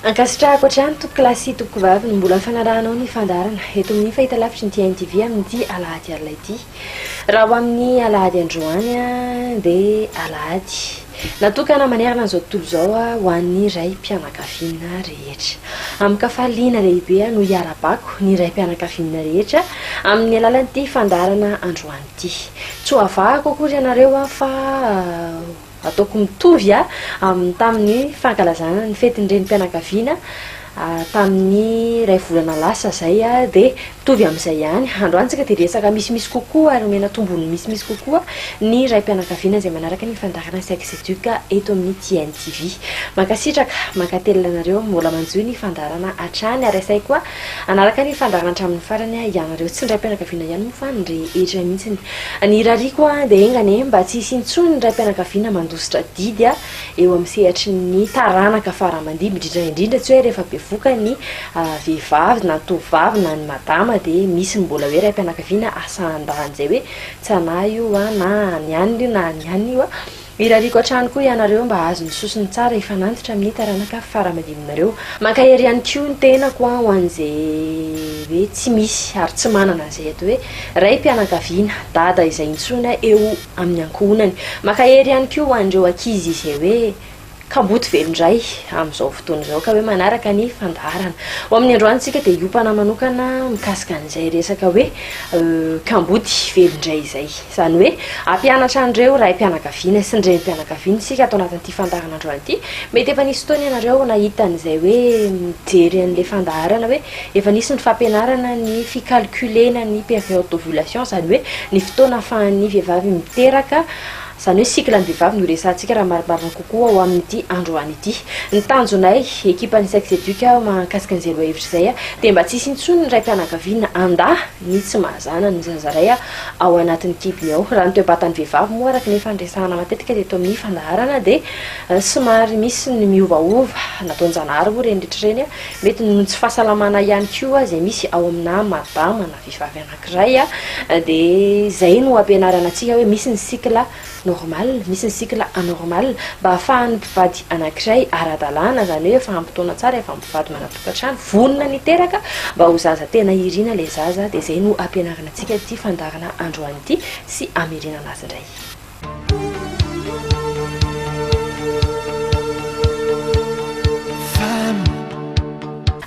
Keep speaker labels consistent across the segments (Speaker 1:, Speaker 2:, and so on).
Speaker 1: Ankasitrahako hatrany Tompoko lahy sy Tompoko vavy ny mbola fanarahanao ny fandaharana eto amin'ny fahitalavitry ny TNTV amin'ity alahady alina ity. Raha ho amin'ny alahady androany dia alahady. Natokana manerana an'izao tontolo izao ho an'ny raim-pianakaviana rehetra. Amin-kafaliana lehibe no iarahabako ny raim-pianakaviana rehetra amin'ny alalan'ity fandaharana androany ity. Tsy ho avahako akory ianareo fa ataoko mitovy amin'ny tamin'ny fankalazana ny fetin'ny renim-pianakaviana tamin'ny iray volana lasa izay dia mitovy amin'izay ihany. Androany isika dia resaka misimisy kokoa ary omena tombony misimisy kokoa ny raim-pianakaviana izay manaraka ny fandaharana Sex Educ eto amin'ny TNTV. Mankasitraka, mankatelina anareo mbola manjohy ny fandaharana hatrany ary asaiko koa hanaraka ny fandaharana hatramin'ny farany ianareo. Tsy ny raim-pianakaviana ihany moa fa ny rehetra mihitsy. Ny irariako dia enga anie mba tsy hisy intsony ny raim-pianakaviana mandositra didy. eo amin'ny sehatry ny taranaka fara-mandimby indrindra indrindra tsy hoe rehefa bevoka ny vehivavy na ny tovovavy na ny madama dia misy ny mbola hoe raim-pianakaviana asahan-dahiny izay hoe tsy anah io an na ny anona io na ny anona io an, irariako hatrany koa ianareo mba hahazo ny sosony tsara hifanantitra amin'ny taranaka fara-mandimbinareo. Mankahery ihany koa ny tenako an ho an'izay hoe tsy misy ary tsy manana an'izay atao hoe raim-pianakaviana, dada izay intsony an eo amin'ny ankohonany. Maka hery ihany koa ho an'ireo ankizy izay hoe kamboty velon-dray amin'izao fotoana izao ka hoe manaraka ny fandaharana. Ho amin'ny androany isika dia hiompana manokana mikasika an'izay resaka hoe kamboty velon-dray izay. Izany hoe hampianatra an'ireo raim-pianakaviana sy ny renim-pianakaviana isika ato anatin'ity fandaharanandroany ity. Mety efa nisy fotoana ianareo nahita an'izay hoe mijery an'ilay fandaharana hoe Efa nisy ny fampianarana ny fi-calculer-na ny période d'ovulation, izany hoe ny fotoana ahafahan'ny vehivavy miteraka, izany hoe cycle ny vehivavy no resahantsika raha marimarina kokoa ao amin'ity androany ity. Ny tanjonay, ekipan'ny Sexeduc mahakasika an'izay lohahevitra izay, dia mba tsy hisy intsony ny raim-pianakaviana handà ny tsy mahazanany zaza iray ao anatin'ny kibony ao. Raha ny toe-batan'ny vehivavy moa, araka ny efa niresahana matetika teto amin'ny fandaharana, dia somary misy ny miovaova, nataon-janahary moa ireny rehetra ireny. Mety noho ny tsy fahasalamana ihany koa izay misy ao aminà madama na vehivavy anankiray dia izay no ampianarana antsika hoe misy ny cycle normal, misy ny cycle anormal mba hahafahan'ny mpivady anankiray ara-dalàna izany hoe efa ampy taona tsara, efa mpivady manatokantrano, vonona ny hiteraka mba ho zaza tena irina ilay zaza dia izay no ampianarana antsika ity fandaharana androany ity sy hamerenana azy indray.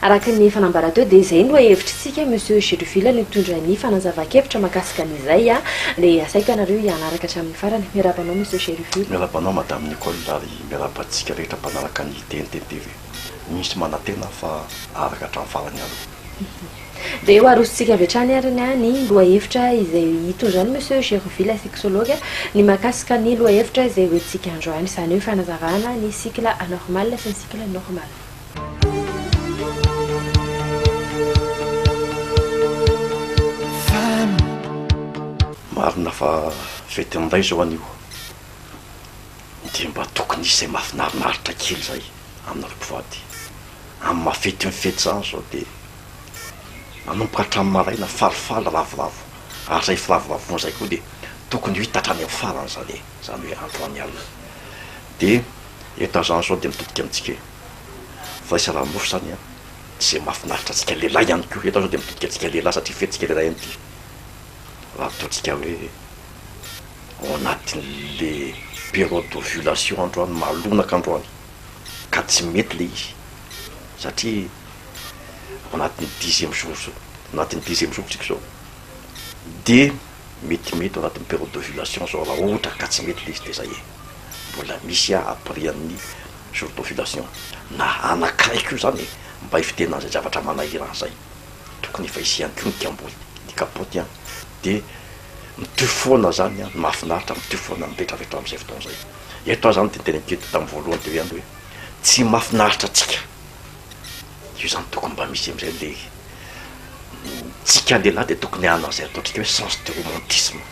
Speaker 1: Araka ny efa nambara teo dia izay no hevitritsika Monsieur Gedoville no hitondra ny fanazavan-kevitra mahakasika an'izay dia asaiky ianareo hianaraka hatramin'ny farany. Miarahaba anao Monsieur Gedoville. Miarahaba anao Madame Nicole
Speaker 2: ary miarahaba antsika rehetra mpanaraka ny TNT TV. Misy manantena aho fa araka hatramin'ny farany aloha. Dia ho arosontsika
Speaker 1: avy hatrany ary ny ahy ny lohahevitra izay hitondrany Monsieur Gerovi la sexologue ny mahakasika ny lohahevitra izay ho entintsika androany, izany hoe fanazavana ny cycle anormal sy ny cycle normal.
Speaker 2: Marina fa fety an'inday izao anio. Dia mba tokony hisy izay mahafinarinaritra kely izay aminareo mpivady. Amin'ny maha fety ny fety izany izao dia manomboka hatramin'ny maraina falifaly ravoravo ary izay firavoravoana izay koa dia tokony ho hita hatrany amin'ny farany izany e! izany hoe androany alina. Dia eto amin'izany izao dia mitodika amintsika firaisana mofo izany an! izay mahafinaritra antsika lehilahy ihany koa, eto izao dia mitodika antsika lehilahy satria fetintsika lehilahy ihany ity raha toa antsika hoe. ao anatin'le période d'ovulation androany, malonaka androany, ka tsy mety le izy satria ao anatin'ny dixième jour zao, anatin'ny dixième jour tsika zao, de metimety ao anatin'ny période d'ovulation zao raha ohatra ka tsy mety le izy de zay e, mbola misy a après an'ny jour d'ovulation, na anakiray ko zany e, mba hifidianana an'izay zavatra manahirana an'izay, tokony efa hisy ihany ko ny kamboty, ny kapoty an, de. Mitohy foana zany an, ny mahafinaritra mitohy foana mipetraka eto amin'izay fotoana izay. Eto aho zany dia niteny an'ity tamin'ny voalohany teo ihany hoe tsy mahafinaritra antsika. Io zany tokony mba misy amin'izay ilay tsika lehilahy dia tokony hanana izay ataontsika hoe sens de romantisme.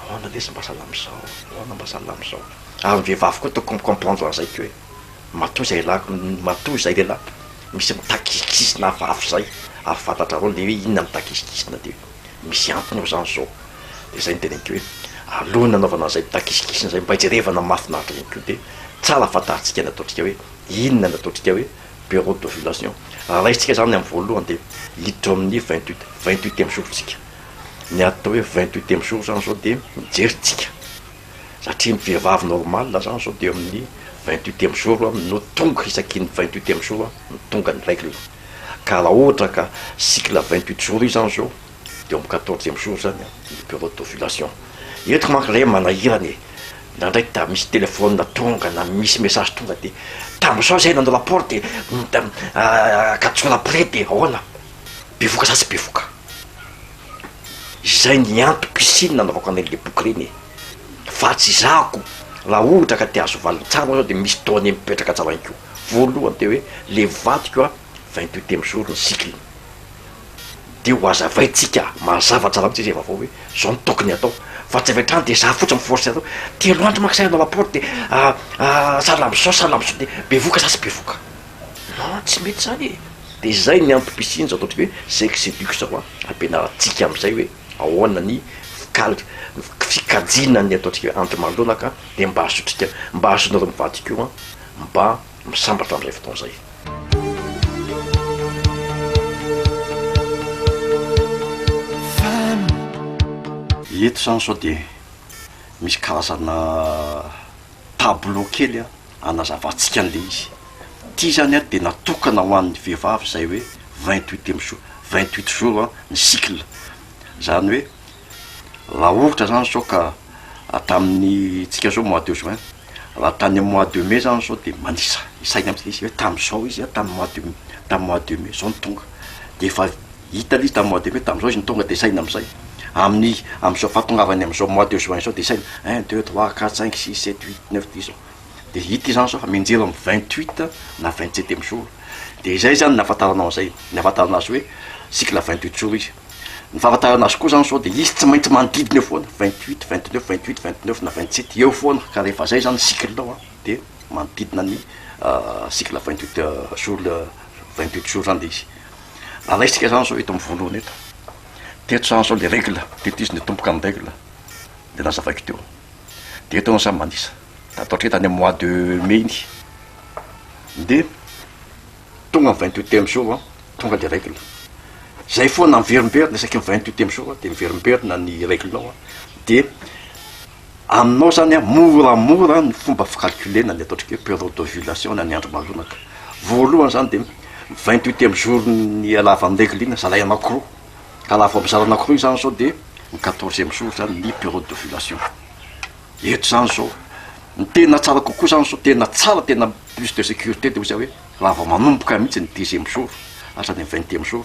Speaker 2: Ahoana lesy mba sahala amin'izao, ahoana mba sahala amin'izao. Ary ny vehivavy koa tokony mi-comprendre an'izay koa e. Matoa izay lahy, matoa izay lehilahy misy mitakisinkisina hafahafa izay, ary fantatrareo ilay hoe inona mitakisinkisina dia. Misy antony ao izany izao. Dia izay no teneniko hoe alohan'ny nanaovana an'izay takisikisiny izay mba jerevana mahafinaritra ihany koa dia tsara fantarintsika ny ataontsika hoe inona ny ataontsika hoe bureau d'ovulation. Raha raisintsika izany amin'ny voalohany dia hiditra ao amin'ny vingt huit, vingt huitième jour-ntsika. Ny atao hoe vingt huitième jour izany izao dia mijery tsika satria ny vehivavy normal zany zao de eo amin'ny vingt huitième jour a no tonga isaky ny vingt huitième jour no tonga ny règle, ka raha ohatra ka cycle vingt huit jour io zany zao de eo amin'ny quatorzième jour zany ny période d'ovulation, eto manko re manahirana e, ndraindray da misy téléphone tonga na misy message tonga de tamy zao zay nanao rapport de quatre jours après de ahoana, bevoka sa tsy bevoka. Izay ny antoko i Sina nanaovako an'ireny le boky ireny e! Fa tsy zahako, raha ohatra ka te-hahazo valiny tsara ianao dia misy données mipetraka tsara ihany koa. Voalohany dia hoe le vadiko a, vingt huit ème jour ny cycle-ny. Dia ho hazavaintsika mazava tsara mihitsy izay vaovao hoe zao no tokony hatao. Fa tsy avy hatrany dia za fotsiny mi-forcer anao, telo andro manko za hanao rapport dia salama zao salama zao dia bevoka za tsy bevoka. Aa tsy mety zany e! De zay ny antom pisiany zao ataontsika hoe sex educ zao a, ampianarantsika amzay hoe ahoana ny fikal- fikajiana ny ataontsika hoe andro manoloana ka, de mba ahazoantsika, mba ahazoanareo mivady koa mba misambatra amzay fotoana zay. Eto zany zao de misy karazana tableau kely a. Hanazavantsika an'ilay izy. Ity izany ary dia natokana ho an'ny vehivavy izay hoe vingt huit emy jour, vingt huit jour ny cycle. Izany hoe raha ohatra izany izao ka tamin'ny antsika izao mois de juin, raha tany amin'ny mois de mai izany izao dia manisa isaina amin'izay izy hoe tamin'izao izy, tamin'ny mois de mai, tamin'ny mois de mai izao no tonga dia efa. Hita aloha izy tamin'ny mois de mai, tamin'izao izy no tonga dia saina amin'izay. Amin'ny amin'izao fahatongavany amin'izao mois de juin izao dia saina, un, deux, trois, quatre, cinq, six, sept, huit, neuf, dix zao. Dia hita izany izao fa mianjera amin'ny vingt huit na vingt sept emy jour. Dia izay izany ny ahafantaranao an'izay, ny ahafantarana azy hoe cycle vingt huit jour izy. Ny fahafantarana azy koa izany sao dia izy tsy maintsy manodidina eo foana, vingt huit, vingt neuf, vingt huit, vingt neuf na vingt sept eo foana, ka rehefa izay izany ny cycle-nao an, dia manodidina ny cycle vingt huit jour, vingt huit jour izany ilay izy. Alaintsika izany izao eto amin'ny voalohany eto. Teto izany izao ilay règle, teto izy nitomboka amin'ny règle, dia nazavaiko teo. Dia eto ianao samy manisa. Tato hatreto any amin'ny mois de mai iny. Dia tonga ny vingt huitième jour, tonga ilay règle. Izay foana miverimberina isaky ny vingt huitième jour dia miverimberina ny règle-nao dia Aminao zany an, moramora ny fomba fi-calculer-na ny ataontsika hoe période d'ovulation na ny andro maroanaka. Voalohany zany dia vingt huit ème jour ny ialavan'ny règle-na zalahy anakiroa, ka raha vao mizara anakiroa izany zao dia ny quatorze ème jour zany ny période d'ovulation. Eto zany zao, ny tena tsara kokoa zany zao, tena tsara, tena plus de sécurité dia ozy hoe raha vao manomboka mihitsy ny dixième jour hatrany amin'ny vingtième jour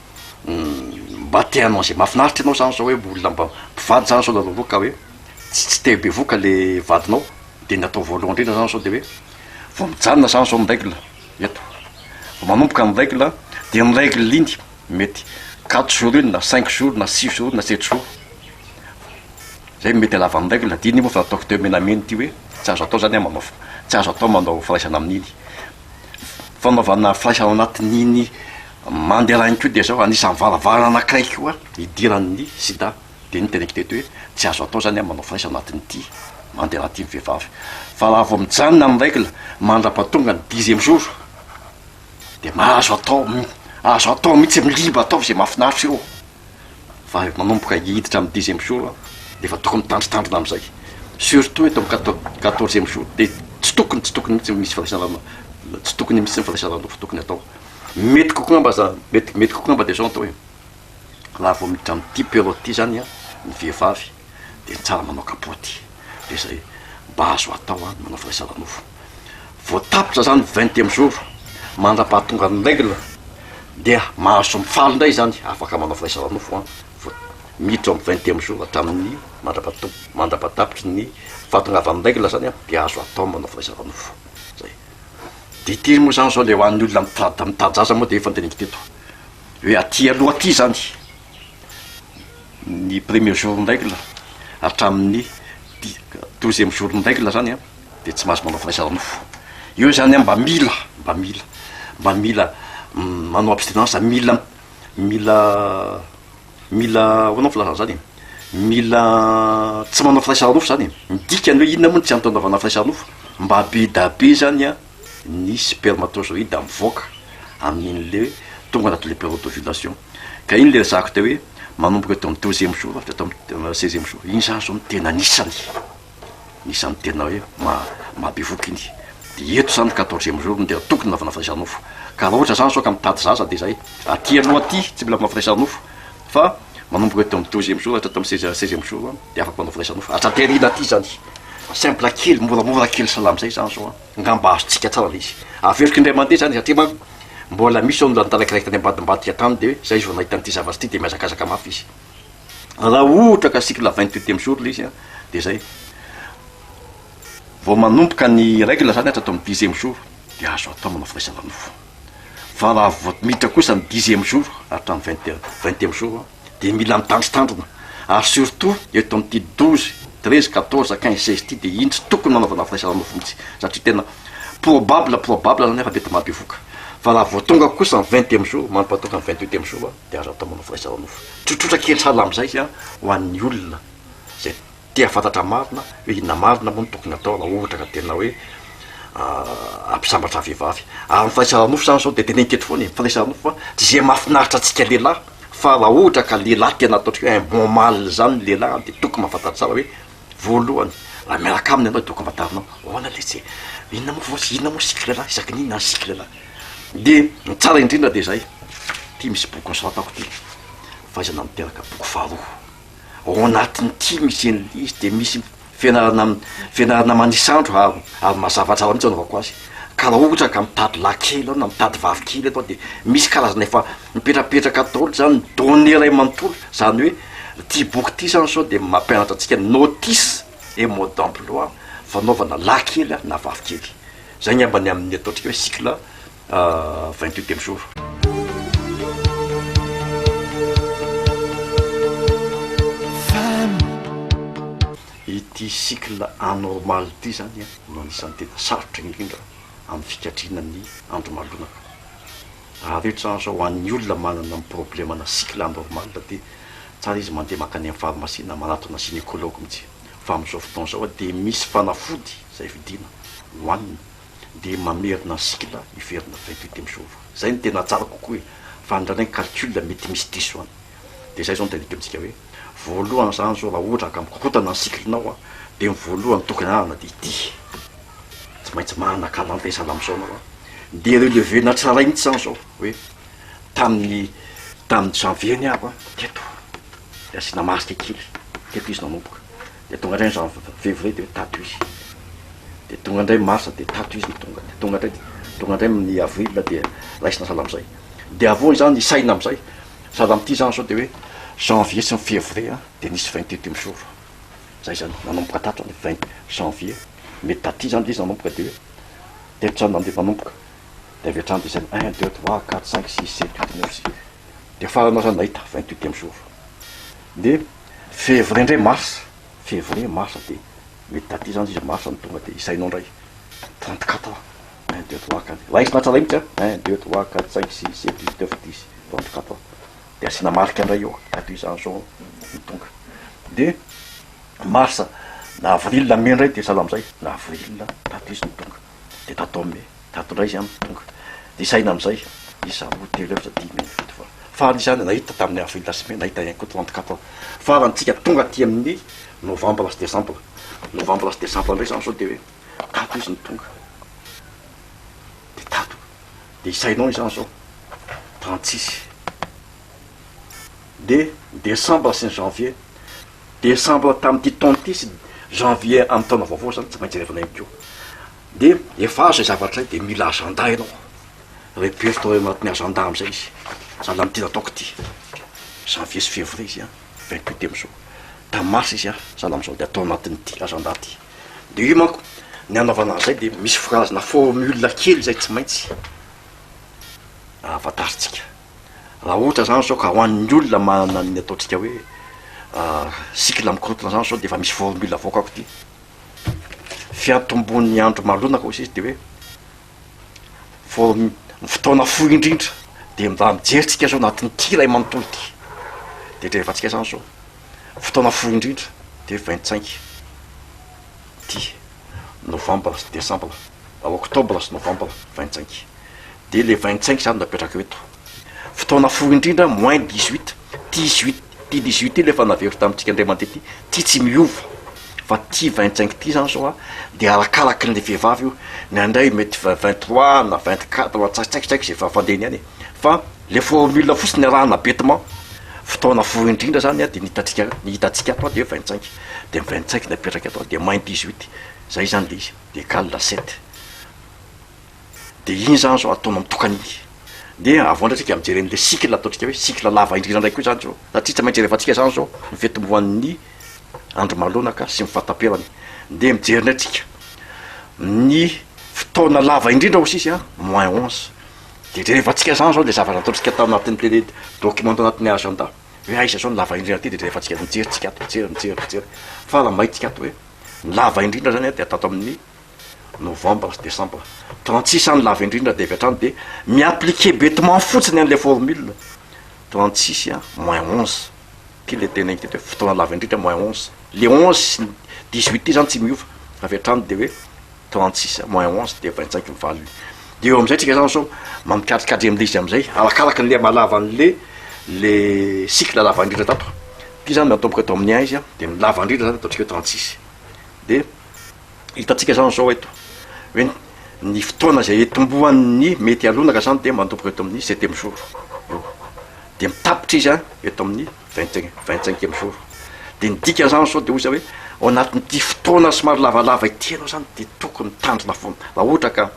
Speaker 2: Mba te hanao an'izay mahafinaritra anao zany zao hoe olona mba mpivady zany zao lalao aloha ka hoe tsy tsy te bevoka le vadinao, de ny atao voalohany indrindra zany zao de hoe vao mijanona zany zao ny règle eto, vao manomboka ny règle a de iny règle iny mety quatre jours iny na cinq jours na six jours na sept jours, zay mety halavan'ny règle, de iny moa fa ataoko teo menamena ity hoe tsy azo atao zany a mamafy, tsy azo atao manao firaisana amin'iny, fanaovana flash ao anatin'iny Mandela iny koa dia zao anisan'ny varavarana anankiray koa hidiran'ny sida, de iny teneniko teto hoe tsy azo atao zany manao flash ao anatin'ity Mandela ity ny vehivavy fa raha vao mijanona amin'ny règle mandrapa tonga ny dixième jour de mahazo atao, azo atao mihitsy, libre ataovy ze mahafinaritra eo. vao manomboka hiditra amin'ny dixième jour aho dia efa tokony mitandrintandrina amin'izay, surtout eto amin'ny quatorzième jour dia tsy tokony tsy tokony mihitsy misy firaisan-drano, tsy tokony misy ny firaisan-drano fa tokony atao, mety kokoa angamba za, mety mety kokoa angamba dia izao no atao e, raha vao miditra amin'ity période ity izany ny vehivavy dia tsara manao kapaoty. de zay mba azo atao an manao firaisana nofo vao tapitra zany vingtième jour mandrapahatongan'ny règle dia mahazo mifaly indray zany afaka manao firaisana nofo an vao miditra amin'ny vingtième jour hatramin'ny mandrapahatonga mandrapahatapitry ny fahatongavan'ny règle zany an de azo atao manao firaisana nofo zay de ity moa zany zao le ho an'ny olona mitady mitady zaza moa de efa andiniko teto hoe aty aloha aty zany ny premier jour ny règle hatramin'ny douzième jour ny règle zany an dia tsy mahazo manao firaisana nofo, eo zany an mba mila mba mila mba mila manao abstinence mila mila mila ahoana ny filazana zany e? mila tsy manao firaisana nofo zany e, ny dikany hoe inona moa no tsy antony anaovana firaisana nofo? mba be da be zany an ny spermatozoïde mivoaka amin'iny le tonga anatin'le periode d'ovulation. Ka iny le ezahako teo hoe manomboka eto amin'ny douzième jour avy ato amin'ny seizième jour iny zany zao no tena anisany anisany tena hoe mahabevoka iny de eto zany ny quatorzième jour no tena tokony anaovana firaisana nofo ka raha ohatra zany zao ka mitady zaza de zay aty aloha aty tsy mila manao firaisana nofo fa manomboka eto amin'ny douzième jour hatrany amin'ny seizième seizième jour de afaka manao firaisana nofo atraty aoriana aty zany simple kely moramora kely salama zay zany zao an Ngamba azontsika tsara le izy. Averiko indray mandeha zany satria manko mbola misy zao olona nitalaky raikitra any ambadimbadika tany de hoe zay izy vao nahita an'ity zavatra ity de mihazakazaka mafy izy. Raha ohatra ka cycle vingt huitième jour le izy an de zay vao manomboka ny règle zany hatrato amin'ny dixième jour de azo atao manao firaisana nofo. Fa raha vao miditra kosa ny dixième jour hatramin'ny vingt et un, vingtième jour an, dia mila mitandrintandrina ary surtout eto amin'ity douze, treize, quatorze, quinze, seize ity dia iny tsy tokony nanaovana frais ara-nofo mihitsy satria tena probable, probable izany efa mety mampivoka fa raha vao tonga kosa ny vingtième jour, manompantoka ny vingt huitième jour dia azo atao manao frais ara-nofo tsotsotra kely sahala amin'izay izay an, ho an'ny olona izay. dia fantatra marina hoe inona marina moa no tokony atao raha ohatra ka tena hoe hampisambatra vehivavy. Ary ny fandraisana nofo izany izao dia teneniko eto foana e, fandraisana nofo fa tsy izay mahafinaritra antsika lehilahy fa raha ohatra ka lehilahy tena ataontsika hoe un bon male izany ny lehilahy dia tokony mahafantatra tsara hoe voalohany raha miaraka aminy ianao dia tokony fantarinao ahoana ilay tsy inona moa vao inona moa cycle lehilahy, isaky ny inona ny cycle lehilahy. Dia ny tsara indrindra dia izay, ity misy boky nosoratako ity, Fahaizana Miteraka, boky faharoa. ao anatiny ty misy anle izy de misy fianarana fianarana manisy andro ary ary mazava tsara mitsy anaovako azy ka raha ohatra ka mitady lahy kely aho na mitady vavy kely atao de misy karazana efa mipetrapetraka atao ohatra zany donne iray manontolo zany hoe ty boky ty zany sao de mampianatra antsika notice et mode d'emploi fanaovana lahy kely na vavy kely zay ngambany amin'ny ataontsika hoe cycle vingt-huit ème jour. Ity cycle anormal ity izany no anisan'ny tena sarotra indrindra amin'ny fikajiana ny andro malonaka. Raha avy eo izany izao ho an'ny olona manana amin'ny problème ana cycle anormal dia tsara izy mandeha mankany amin'ny pharmacie na manatona gynécologue mihitsy fa amin'izao fotoana izao dia misy fanafody izay vidiana hohanina dia mamerina ny cycle hiverin'ny reine fete amin'i Jehovah. Izay no tena tsara kokoa e! Fa indraindray ny calcul mety misy diso any. Dia izay izao no tadidio amintsika hoe, voalohany izany izao raha ohatra ka mikorontana ny cycle-nao an, dia ny voalohany tokony hanana dia ity, tsy maintsy manana calendrier sahala amin'izao ianao an, dia relever-na tsara mihitsy izany izao hoe, tamin'ny tamin'ny janvier ny ahy an, teto, dia asiana marque kely, teto izy nanomboka. Dia tonga indray ny jan, fevrier dia tato izy, dia tonga indray marsa dia tato izy no tonga, dia tonga indray, tonga indray ny avril dia raisina sahala amin'izay, dia avy eo izany isaina amin'izay, sahala amin'ity izany izao dia hoe janvier sy ny fevrier an, dia nisy vingt et un jours, izay izany, nanomboka tato izany, vingt janvier, mety taty izany ilay izy nanomboka dia hoe, teto izany nandeha manomboka, dia avy hatrany dia isaina, un, deux, trois, quatre, cinq, six, sept, huit, neuf, dix. dia farany aza nahita vingt huitième jour dia février indray mars février mars dia mety taty zany izy mars no tonga dia isainao indray trente quatre ans un deux trois quatre raha izy na tsy alay mihitsy a un deux trois quatre cinq six sept huit neuf dix trente quatre ans dia asiana marika indray eo tato izany zao no tonga dia mars na avril na mai indray dia sahala amin'izay na avril tato izy no tonga dia tato mai Tato indray izy no tonga. Nisaina amin'izay izaho telo efatra dimy ambin'ny folo fa farany izany nahita tamin'i avril sy mey nahita ihany koa trente quatre aho. Farany tsika tonga aty amin'ny novambra sy desambra. Novambra sy desambra indray izany sao dia hoe tato izy no tonga. Dia tato. Dia isainao izany zao trente six. Dia desambra sy ny janvier. Desambra tamin'ity taona ity sy janvier amin'ny taona vaovao izany tsy maintsy revana ihany koa. Dia efa azo izay zavatra izay dia mila agenda ianao, repère tao anatin'ny agenda amin'izay izy, zala ny tena ataoko ity, janvier sy février izy an, vingt huit amin'izao, tamin'ny mars izy an, zala amin'izao dia atao anatin'ity agenda ity, dia io manko ny anaovana an'izay dia misy phrase na formule kely izay tsy maintsy ahafantarintsika, raha ohatra izany izao ka ho an'ny olona manana ny ataontsika hoe cycle mikorontana izany izao dia efa misy formule avoakako ity. fiantombohan'ny andro malonaka hoy sisa dia hoe vao ny fotoana fohy indrindra dia mba mijery tsika izao anatin'ity iray manontolo ity dia rehefa tsika izany izao fotoana fohy indrindra dia hoe vintcinq ity novambra sy desambra na oktobra sy novambra vintcinq dia le vintcinq izany no apetraka eto Fotoana fohy indrindra moins dix huit ty huit ty dix huit ty le efa navero tamintsika indray mandeha ty ty tsy miova fa ty vingt cinq ty zany zao a de arakaraky le vehivavy io ny anay mety vingt vingt trois na vingt quatre na tsy haiko ze fa fandehany any e fa le formule fotsiny arahana bêtement fotoana fohy indrindra zany a de ny hitantsika ny hitantsika ato a de vingt cinq de ny vingt cinq napetraka eto a de moins dix huit zay zany le izy de cal sept. Dia iny zany zao ataonao mitokana iny. Dia avy eo ndray tsika mijery an'ilay cycle ataontsika hoe cycle lava indrindra ndray koa izany zao, satria tsy maintsy rehefa antsika zany zao ny fitomboan'ny andro malonaka sy ny fahataperany, dia mijery ndray tsika ny fotoana lava indrindra hoy sisa moins onze, dia jereva antsika zany zao le zavatra ataontsika tao anatin'ny tele document tao anatin'ny agenda, hoe aiza zao ny lava indrindra aty dia jereva antsika mijery tsika ato, mijery mijery mijery, fa raha mahita tsika ato hoe ny lava indrindra zany dia ato amin'ny Novambra sy desambra. Trente six any lava indrindra dia avy hatrany dia mi-appliquer betement fotsiny an'ilay formule. Trente six moins onze. Ity ilay tena inquiète hoe fotoana lava indrindra moins onze. Ilay onze sy ny dix huit ity izany tsy miova. Avy hatrany dia hoe trente six moins onze dia vingt cinq ny valiny. Dia eo amin'izay tsika izany sao mampikatrikatry an'ilay izy amin'izay arakaraka an'ilay mahalava an'ilay ilay cycle lava indrindra tato. Ity izany miantomboka eto amin'ny un izy dia ny lava indrindra izany ataontsika hoe trente six. Dia. Hitantsika izany izao eto hoe ny fotoana izay hitomboan'ny mety halonaka izany dia manomboka eto amin'ny septième jour io, dia mitapitra izy an eto amin'ny vingt et un, vingt cinquième jour. Dia ny dikan'izany izao dia hoy izy hoe ao anatin'ity fotoana somary lavalava ity ianao izany dia tokony mitandrina foana. Raha ohatra ka,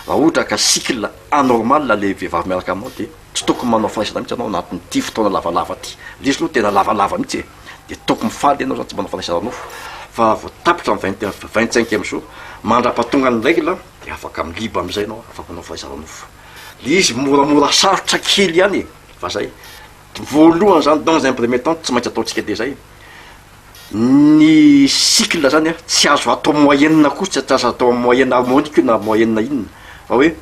Speaker 2: raha ohatra ka cycle anormal ilay vehivavy miaraka aminao dia. Tsy tokony manao fanaisana mihitsy ianao anatin'ity fotoana lavalava ity. Lesy aloha tena lavalava mihitsy e! Dia tokony mifaly ianao izany tsy manao fanaisana nofo fa vao tapitra ny vingt heures, vingt cinq heures jour, mandrapatongan'ny règle dia afaka mi-libre amin'izay ianao, afaka manao fanaisana nofo. Ilay izy moramora sarotra kely ihany e! Fa izay. Voalohany izany, dans un premier temps, tsy maintsy ataontsika dia izay. Ny cycle izany an, tsy azo atao moyenne koa, tsy azo atao moyenne harmonique io na moyenne inona fa hoe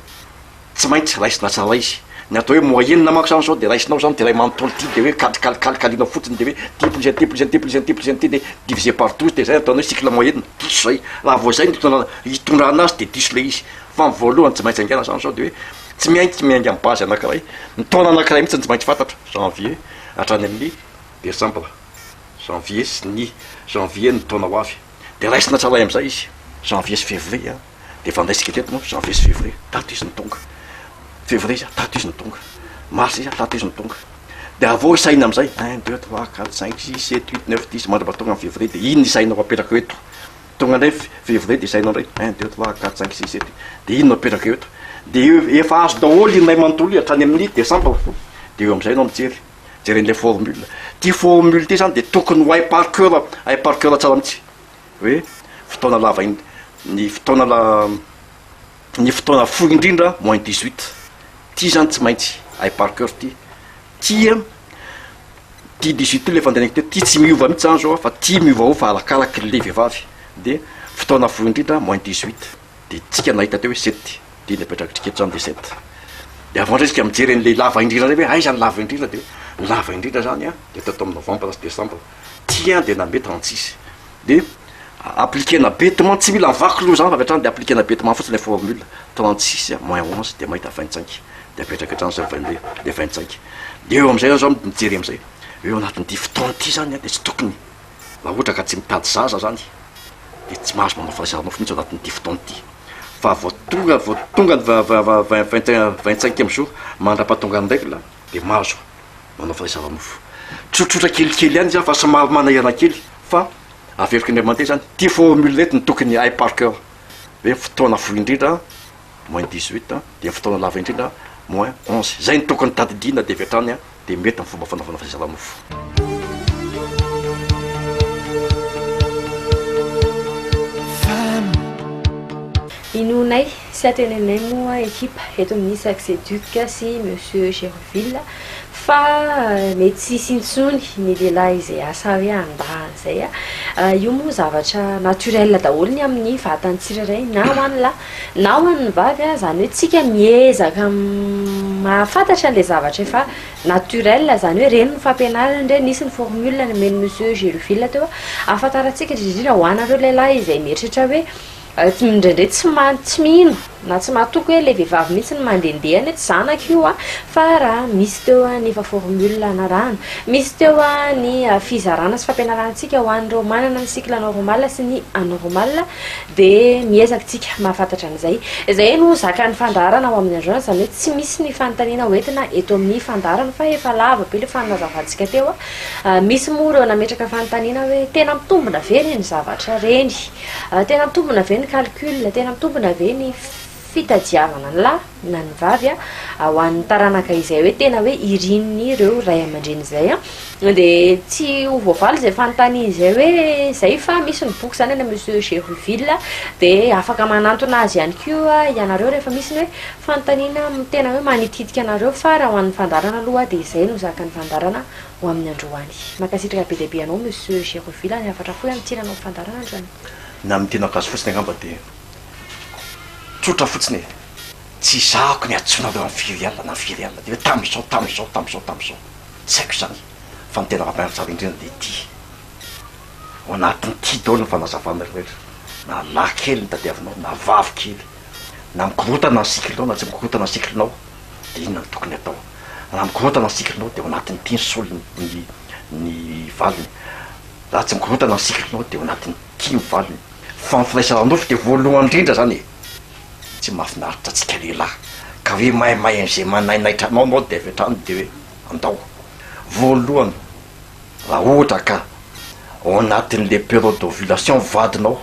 Speaker 2: Tsy maintsy raisina tsara izy. Ny atao hoe moyenne manko zany zao de raisinao zany de iray manontolo ity de hoe kalikalikalikalinao fotsiny de hoe ity plus an'ity plus an'ity plus an'ity plus an'ity de diviser par douze de zay ataonao hoe cycle moyenne, diso zay. Raha vao zay ny itondrana itondrana azy de diso le izy. Fa ny voalohany tsy maintsy haingana zany zao de hoe tsy miaintsy miainga amin'ny base anakiray, ny taona anakiray mihitsy no tsy maintsy fantatra, janvier hatrany amin'ny desambra, janvier sy ny janvier ny taona ho avy. De raisina tsara amin'izay izy, janvier sy fevrier an. dia efa niraisika teto manko janvier sy fevrier, tato izy no tonga, fevrier izy, tato izy no tonga, mars izy, tato izy no tonga, dia avy eo isaina amin'izay, un, deux, trois, quatre, cinq, six, sept, huit, neuf, dix, mandra mba tonga amin'ny fevrier, dia iny no isainao apetraka eo eto, tonga indray fevrier dia isainao indray, un, deux, trois, quatre, cinq, six, sept, huit, dia iny no apetraka eo eto, dia efa azo daholo iny iray manontolo iny hatrany amin'ny desambra, dia eo amin'izay ianao mijery, jeren'ilay formule, ity formule ity izany dia tokony ho hay par coeur, hay par coeur tsara mihitsy. hoe fotoana lava in, ny fotoana la, ny fotoana fohy indrindra moins dix huit. Ity zany tsy maintsy hay par coeur ity. Ty an, ty dix huit ty le fandehanako teto ty tsy miova mihitsy zany zao fa ty miovaova fa arakaraky le vehivavy. De fotoana fohy indrindra moins dix huit. De tsika nahita teo hoe sept dia iny napetrakitrika eto zany dia sept. De avant indray tsika mijery an'le lava indrindra indray hoe aiza ny lava indrindra dia lava indrindra zany an dia eto eto amin'ny novembre sy décembre. Ty an dia nambe trente six dia appliquena betement tsy mila vaky loha zany fa avy hatrany dia appliquena betement fotsiny ilay formule trente six moins onze dia mahita vingt cinq dia apetraka hatrany izay vingt deux dia vingt cinq dia eo amin'izay zao mijery amin'izay eo anatin'ity fotoana ity zany an dia tsy tokony raha ohatra ka tsy mitady zaza zany dia tsy mahazo manao fahazarana mihitsy ao anatin'ity fotoana ity fa vao tonga vao tonga ny vingt cinq vingt cinq ème jour mandra-pahatongan'ny règle dia mahazo manao fanaisana mofo. Tsotsotra kelikely ihany izy an, fa somary manahirana kely fa averiko Andriamanitra izany. Ity formule ity no tokony hay par cœur hoe fotoana fohy indrindra moins dix huit dia fotoana lava indrindra moins onze. Izay no tokony tadidiana dia avy hatrany dia mety ny fomba fanaovana fanaisana mofo.
Speaker 1: Inoanay Tsy hatenenay moa ekipa eto amin'ny Saxeduc sy Monsieur Gerville fa mety tsy hisy intsony ny lehilahy izay asa hoe handà an'izay. Io moa zavatra naturel daholo ny amin'ny vatan'ny tsirairay na ho an'ny lahy na ho an'ny vavy. Izany hoe isika miezaka mahafantatra an'ilay zavatra efa naturel, izany hoe ireny no fampianarana, indray nisy ny formule nomen'i Monsieur Gerville teo ahafantarantsika indrindra indrindra ho anareo lehilahy izay mieritreritra hoe Indraindray tsy maha tsy mino na tsy mahatoky hoe ilay vehivavy mihitsy no mandehandeha any hoe tsy zanako io an! fa raha misy teo ny efa formule anarahana, misy teo ny fizarana sy fampianarantsika ho an'ireo manana ny cycle normal sy ny anormal dia miezaka isika mahafantatra an'izay. Izay no zakan'ny fandaharana ao amin'ny agence izany hoe tsy misy ny fanontaniana hoentina eto amin'ny fandaharana fa efa lava be ilay fanazavantsika teo an! misy moa ireo nametraka fanontaniana hoe tena mitombina ve ireny zavatra ireny? Tena mitombina ve ny calcul, tena mitombina ve ny fitadiavana ny lahy na ny vavy ho an'ny taranaka izay hoe tena hoe irin'ireo ray aman-dreny izay an, dia tsy ho voavaly izay fanontaniana izay hoe izay fa misy ny boky izany any amin'ny Musée Gerouville dia afaka manantona azy ihany koa ianareo rehefa misy ny hoe fanontaniana tena hoe manitikitika anareo fa raha ho an'ny fandaharana aloha dia izay no zakan'ny fandaharana ho amin'ny androany. Mankasitraka be dia be anao Monsieur Geroville ary hafatra fohy amin'ny tsinanao fandarandrana. Ny amin'ny tena gasy
Speaker 2: fotsiny angamba dia tsotra fotsiny e! Tsy izahako ny antsoinareo an'i firy alina na firy alina, dia hoe tamin'izao, tamin'izao, tamin'izao, tamin'izao. Tsy haiko izany. Fa ny tena raha tsara indrindra dia ity, ao anatin'ity daholo ny fanazavana rehetra, na lahy kely no tadiavinao na vavy kely, na mikorontana ny cycle-nao na tsy mikorontana ny cycle-nao. Dia inona no tokony hatao? Raha mikorontana ny sikrinao dia ao anatin'ny mpino solony ny ny valiny. Raha tsy mikorontana ny sikrinao dia ao anatin'ny tia ny valiny. Fa ny firaisana ara-nofo dia voalohany indrindra izany e! Tsy mahafinaritra antsika lehilahy ka hoe maimay an'izay manainaitra anao ianao dia avy hatrany dia hoe andao. Voalohany, raha ohatra ka ao anatin'ilay période d'ovulation ny vadinao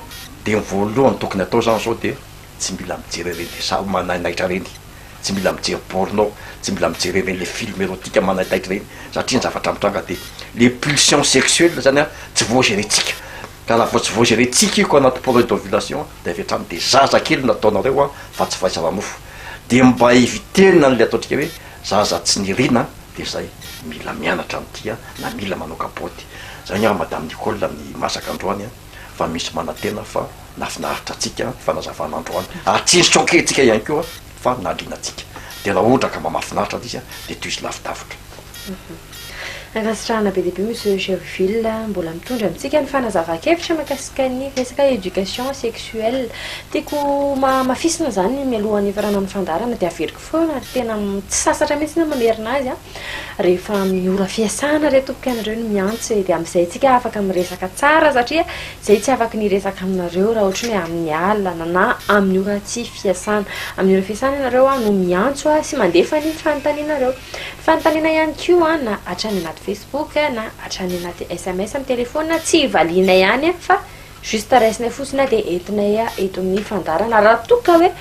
Speaker 2: dia ny voalohany tokony hatao izany izao dia tsy mila mijery ireny resah manainaitra ireny. Tsy mila mijery porno aho, tsy mila mijery ireny le film erotika manaitaitra ireny satria ny zavatra mitranga de le pulsion sexuel zany an tsy voagerentsika ka raha vao tsy voagerentsika io ka anaty porno d'ovulation de avy hatrany de zaza kely no ataonareo an fa tsy fahaizana nofo de mba eviter-na anle ataontsika hoe zaza tsy nirina de zay mila mianatra an'ity an na mila manao kapoty zay angamba madame Nicole ny masaka androany an. fa misy manantena fa nahafinaritra antsika ny fanazavana androany, hatsinjotro ankehintsika ihany koa fa nahaliana antsika. Dia raha ohatra ka mba mahafinaritra ilay izy dia tohizo lavidavitra. Ankasitrahana
Speaker 1: be dia be Monsieur Gerville mbola mitondra amintsika ny fanazavan-kevitra mikasika ny resaka éducation sexuelle. Tiako hohamafisina izany mialohan'ny hifarana ny fandaharana dia averiko foana ary tena tsy sasatra mihitsy aho mamerina azy an! Rehefa amin'ny ora fiasana ireo tompoko ianareo no miantso dia amin'izay isika afaka miresaka tsara satria izay tsy afaka ny resaka aminareo raha ohatry ny hoe amin'ny alina na amin'ny ora tsy fiasana. Amin'ny ora fiasana ianareo aho no miantso aho sy mandefa ny fanontanianareo. Ny fanontaniana ihany koa an, na hatrany anaty Facebook na hatrany anaty sms amin'ny telefaonina tsy valianay any fa Juste raisinay fotsiny a dia entinay eto amin'ny fandaharana raha toa ka hoe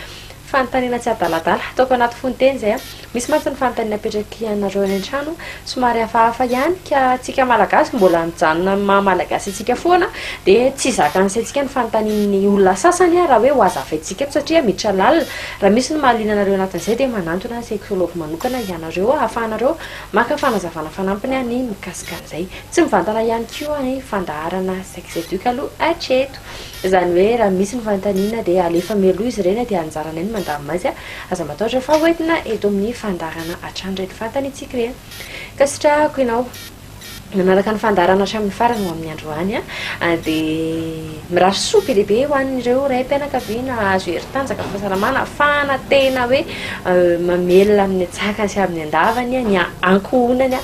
Speaker 1: fanontaniana tsy adaladala ataoko anaty fononteny izay a! Misy mantsy ny fanontaniana apetraky anareo any an-trano somary hafahafa ihany ka antsika Malagasy mbola mijanona amin'ny maha Malagasy antsika foana dia tsy zakan'ny saintsika ny fanontanian'ny olona sasany raha hoe ho hazavaintsika eto satria miditra lalina. Raha misy ny mahaliana anareo anatin'izay dia manantona sexologue manokana ianareo ahafahanareo maka fanazavana fanampiny ny mikasika an'izay. Tsy mivantana ihany koa ny fandaharana sex educ aloha hatreto. Izany hoe raha misy ny fanontaniana dia alefa mialoha izy ireny dia anjaranay ny mandamina azy. Aza matahotra fa ho entina eto amin'ny fandaharana hatrany ireny fanontaniantsika ireny. Ankasitrahako ianao nanaraka ny fandaharana hatramin'ny farany ho amin'ny androany. Dia mirary soa be dia be ho an'ireo raim-pianakaviana hahazo hery tanjaka, fahasalamana, hahafahana tena hoe mamelona amin'ny tsakany sy amin'ny andavany ny ankohonany.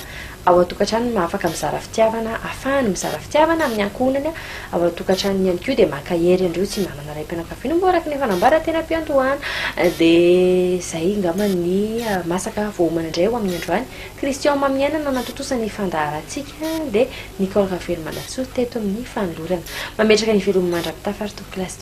Speaker 1: ao an-tokantrano no afaka mizara fitiavana, afahany mizara fitiavana amin'ny ankohonany ao an-tokantranony ihany koa dia mankahery an'ireo tsy manana raim-pianakaviana hoy moa araka ny efa nambara teny am-piandohana dia izay angamba ny masaka voaomana indray ho amin'ny andro any Christian Maminiaina nanatontosa ny fandaharantsika dia Nicole Ravelomanantsoa teto amin'ny fanolorana mametraka ny veloma mandra-pitafa ry Tompokolazy